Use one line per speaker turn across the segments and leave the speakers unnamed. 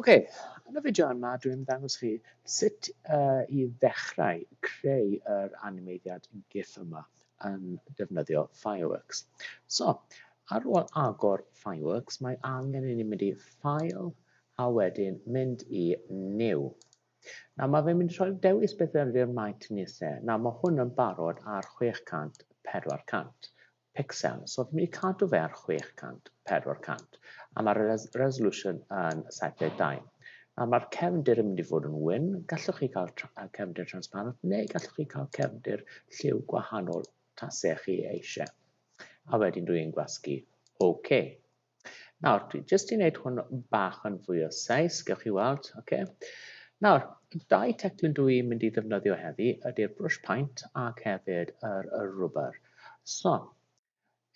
Ok, yn y fideo yma dwi'n mynd i ddangos chi sut uh, i ddechrau creu yr animeiddiad GIF yma yn defnyddio Fireworks. So, ar ôl agor Fireworks, mae angen i ni mynd i File a wedyn mynd i New. Na, mae fe'n mynd i rhoi dewis beth yw'r maint ni lle. Na, mae hwn yn barod ar 600, 400. picsel, so fi'n mynd i cadw fe ar 600, 400, a mae'r res resolution yn 72. A mae'r cefndir yn mynd i fod yn wyn, gallwch chi cael cefndir transparent, neu gallwch chi cael cefndir lliw gwahanol tasech chi eisiau. A wedyn dwi'n gwasgu OK. Nawr, dwi jyst i wneud hwn bach yn fwy o seis, gewch chi weld, oce. Okay. Nawr, dau teclyn dwi i'n mynd i ddefnyddio heddi ydy'r brush paint ac hefyd yr, yr rwber. So,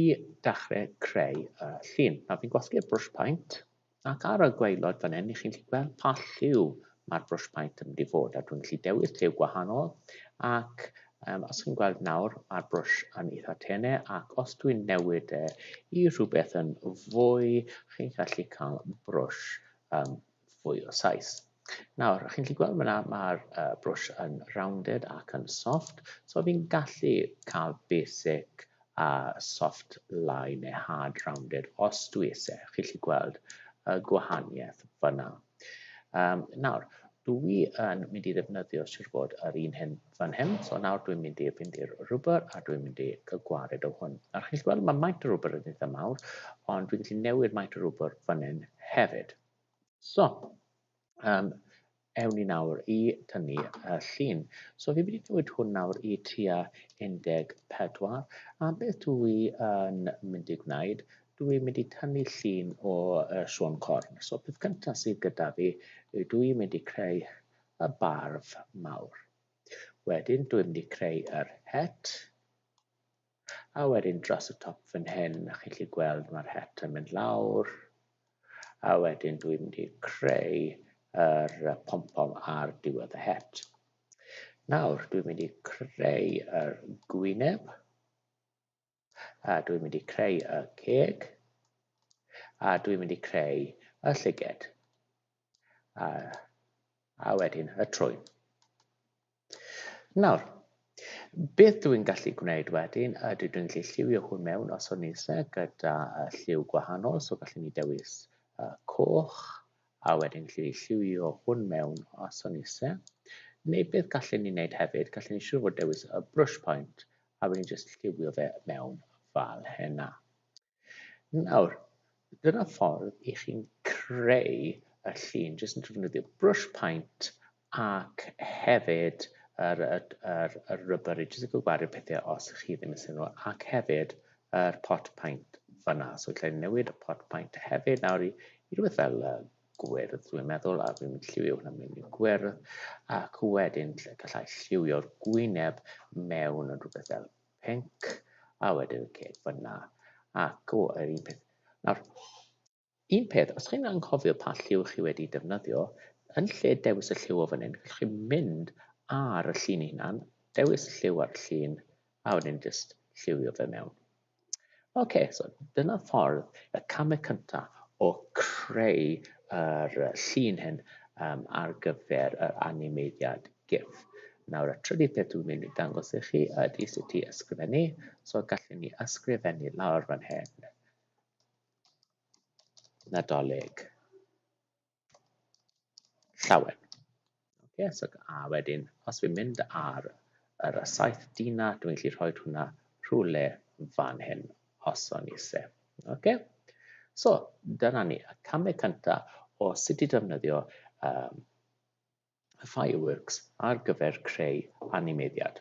i dechrau creu y llun. Nawr, fi'n gwasgu'r brush paint ac ar y gweilod fan hyn, i chi'n gallu gweld pa lliw Mae'r brwsh paent yn mynd i fod a dwi'n gallu dewis lliw gwahanol ac um, os chi'n gweld nawr mae'r brwsh yn eitha tene ac os dwi'n newid e i rhywbeth yn fwy chi'n gallu cael brwsh um, fwy o saes. Nawr, chi'n gallu gweld yna mae'r uh, brwsh yn rounded ac yn soft, so fi'n gallu cael basic a soft line neu hard rounded os dwi eisiau, chi'n gallu gweld y gwahaniaeth fyna. Um, nawr, dwi yn mynd i ddefnyddio siwr bod yr un hyn fan hyn, so nawr dwi'n mynd i fynd i'r rwber a dwi'n mynd i gwared o hwn. Nawr chi'n gallu gweld mae maint y rwber yn eitha mawr, ond dwi'n gallu newid maint y rwber fan hyn hefyd. So, Um, ewn ni nawr i tynnu y llun. So fi wedi dweud hwn nawr i tua 14. A beth dwi yn mynd i gwneud, dwi'n mynd i tynnu llun o uh, Sean Corn. So peth cyntaf sydd gyda fi, dwi'n mynd i creu y barf mawr. Wedyn dwi'n mynd i creu yr het. A wedyn dros y top fan hyn, a chi'n gallu gweld mae'r het yn mynd lawr. A wedyn dwi'n mynd i creu yr pom-pom ar diwedd y het. Nawr, dwi'n mynd i creu yr gwyneb. A dwi'n mynd i creu y ceg. A dwi'n mynd i creu y llyged. a, a wedyn y trwyn. Nawr, beth dw i'n gallu gwneud wedyn ydy dwi'n gallu lliwio hwn mewn os o'n eisiau gyda lliw gwahanol, so gallwn ni dewis uh, coch, a wedyn gallu lliwio hwn mewn os o'n eisiau. Neu beth gallwn ni wneud hefyd, gallwn ni siŵr fod dewis y brush point, a wedyn jyst lliwio fe mewn fel hynna. Nawr, dyna ffordd i chi'n creu y llun, jyst yn defnyddio brush paint ac hefyd yr, yr, yr, yr rybr i jyst yn gwario pethau os ych chi ddim yn sy'n nhw, ac hefyd yr pot paint fyna. So lle newid y pot paint hefyd nawr i, i rhywbeth fel uh, gwyrdd, dwi'n meddwl, a dwi'n lliwio hwnna mewn i gwyrdd, ac wedyn gallai lliwio'r gwyneb mewn yn rhywbeth fel Pink a wedyn y ceg fyna ac o yr un peth. Nawr, un peth, os chi'n anghofio pa lliw chi wedi defnyddio, yn lle dewis y lliw o fan hyn, gallwch chi mynd ar y llun hunan, dewis lliw ar y llun a wedyn jyst lliwio fe mewn. OK, so dyna ffordd, y camau cyntaf o creu yr llun hyn um, ar gyfer yr animeiddiad GIF. Nawr, y trydydd peth dwi'n mynd i dangos i chi ydy sut i ysgrifennu. So, gallwn ni ysgrifennu lawr fan hyn. Nadolig. llawer. Okay, so, a wedyn, os fi'n mynd ar yr saith dina, dwi'n gallu rhoi hwnna rhywle fan hyn, os o'n eisiau. Okay? So, dyna ni, y camau cyntaf o sut i defnyddio um, fireworks ar gyfer creu animeiddiad.